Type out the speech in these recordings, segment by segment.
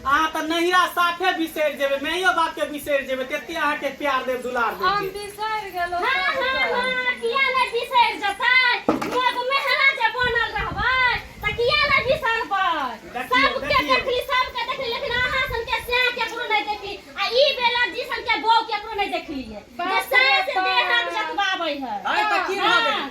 अहाँ तऽ नहिरा साफे बिसरि जेबै माइयो बापके बिसरि जेबै तेते अहाँके प्यार देब दुलार देब हम जे। बिसरि गेलहुँ हाँ, हाँ, सभसँ। हाँ, किया नहि बिसरि जेतै? लोक मेहरा जे बनल रहबै, तऽ किया नहि बिसरबै? देखियौ, सभके देखियौ। देखली, सभके देखली, लेकिन अहाँ सनके सैह केकरो नहि देखली। आ ई बेला जी सनके बहू केकरो नहि देखलियै। जे बाप रे सास बाप। देह हाथ जतबाबै है। अरे तऽ की भऽ गेल? हाँ।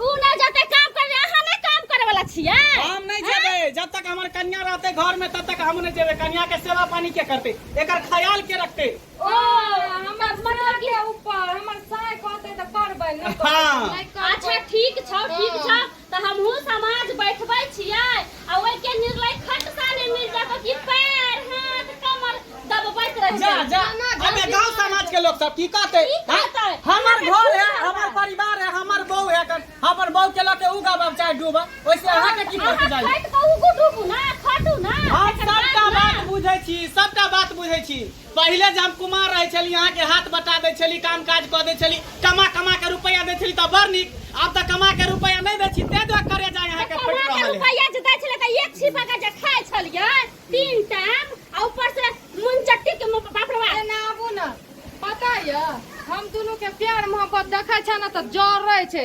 उ ना जते काम कर रहे अहाँ नहीं काम करे वाला छियै हम नहीं जेबे जब तक हमर कन्या रहते घर में तब तक हम नहीं जेबे कन्या के सेवा पानी के करते एकर ख्याल के रखते ओ हमर मना के ऊपर हमर साय कहते त करबै न हाँ। अच्छा ठीक छौ ठीक छौ त हमहू समाज बैठबै छियै आ ओहि के निर्लय खटका ने मिल जात कि पैर हाथ कमर दबबैत रह जा जा अबे गांव समाज के लोग सब की कहते की कहतै? हैं? हमर घर है हमर परिवार है हमर बहू है कन हमर बहू के लके उ गाबब चाहे डूबा ओइसे अहाँ के की फर्क जाई खट के उगु डूबू ना खटू ना हम सबटा बात बुझै छी सबटा बात बुझै छी पहिले जे हम कुमार रहै छली अहाँ के हाथ बटा दै छली काम काज क दै छली कमा कमा के रुपया दै छली त बड़ नीक आब त कमा के रुपया नै दै छी तै दुआरे करे जाय अहाँ के फट रहल है रुपया जे दै छले त एक छिपा के जे खाय छलिए तीन टाइम आ ऊपर से मुन चट्टी के बाप रे बाप ना आबू ना पता य हम दोनों के प्यार मोहब्बत देखै छ ना त जर रहै छै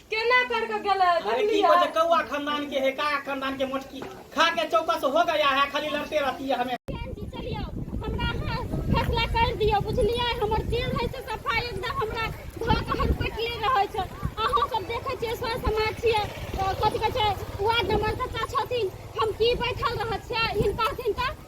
केना कर के गेले अरे की बजे कौआ खानदान के है का खानदान के मोटकी खा के चौकस हो गया है खाली लड़ते रहती है हमें फैसला कर दियो बुझलिए हमर जे है से सफाई एकदम हमरा धो के हर पटले रहे छै अहाँ सब देखे छियै सर समाज छियै कथि कहै छै वार्ड नंबर सत्ता छथिन हम की बैठल रह छियै हिनका हिनका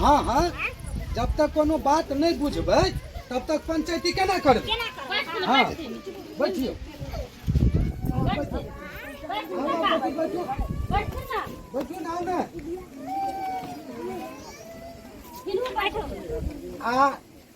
हँ हँ जब तक कोनो बात नहि बुझबै तब तक पंचायती केना करबै हँ बैठियौ बैठू ना ओने आ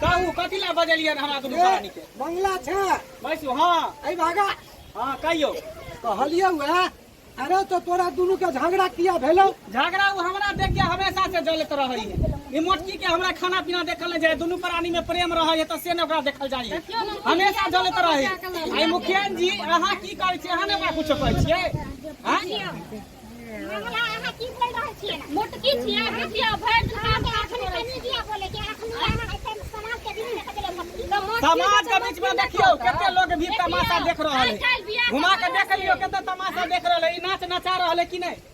कहू कथी ला बजलियन हमरा दुनू प्राणी के मंगला छै बैसू हाँ ऐ भागा हाँ कहियो कहलियौ अरे तो तोरा दुनू के झगड़ा किया भेलौ झगड़ा वो हमरा देख के हमेशा से जलत रहे है ई मोटकी के हमरा खाना पीना देखल नहीं जाए दोनों प्राणी में प्रेम रहे है तो से ने ओकरा देखल जाए है। हमेशा जलत रहे है। आई मुखियन जी अहाँ की करे छी अहाँ ने हमरा कुछ कहै छियै हाँ? मंगला अहाँ की बोल रहल छियै ने? मोटकी छियै अहाँ छियै भरि दिन काम काज अखनी करै कनी दिया बोले कि अखनी अहाँ ऐसन समाज के बीच में कतले हम की कमो समाज के बीच में देखियो कते लोग भी तमाशा देख रहल है घुमा के देख लियो कते तमाशा देख रहल है ई नाच नचा रहल है कि नहीं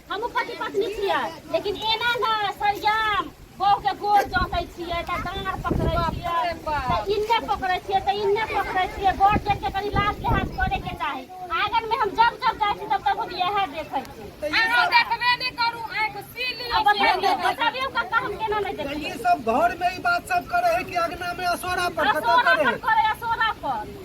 हमहूँ पति पत्नी छियै लेकिन एना ने सरियाम बहुके गोर जँकै छियै तऽ डाँड़ पकड़ै छियै तऽ इन्ने पकड़ै छियै तऽ इन्ने पकड़ै छियै बड़ जेठके कनि लाज लिहाज करैके चाही आँगनमे हम जब जब जाइ छी तब तब हम इएह देखै छी अहाँ देखबे नहि करू आँखि सी आ बताबियौ लिअ बताबियौ कक्का हम केना नहि तो देखै ये सब घर में ही बात सब करे है कि अगना में असोरा पर कतौ असोरा करे पर है करे असोरा पर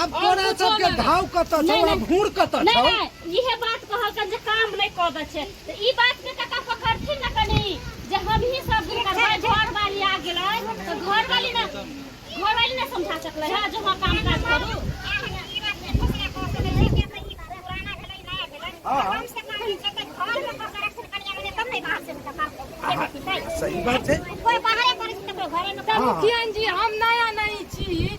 आब और तोरा कुछो सबके नहि। घाव कतऽ छौ नहि, आ नहि। घूर कतऽ नहि छौ नहि इहे बात कहलकन जे काम नहि कऽ दै छै तऽ ई बात के कका पकड़थिन ने कनी जे हमही सब हुनकर भाय घर वाली आ गेलै तऽ घर वाली ने घर वाली ने समझा सकलै है जे हँ काम काज करू सही बात छै कोई बाहरे करे छै ककरो घरे में हाँ। मुखियन जी हम नया नहीं छी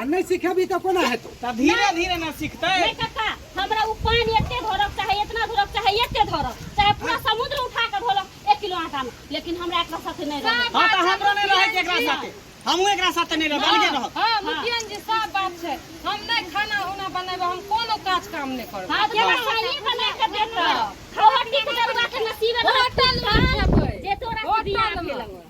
आ नहीं सिखेबी तो कोना हेतौ तब धीरे धीरे ना सीखते नहीं काका हमरा उ पानी एते धरक चाहे इतना धरक चाहे एते धरक चाहे पूरा समुद्र उठा के धरक एक किलो आटा में लेकिन हमरा एकरा साथे नहीं रहत हां तो हमरो नहीं रहे के एकरा साथे हमहु एकरा साथे नहीं रहब अलगे रहब हां मुखियन जी सब बात छै हम नहीं खाना उना बनाबे हम कोनो काज काम नहीं करब हां जे खाली बना के देत खावटी के दरवा के नसीब होटल में जे तोरा बियाह भेल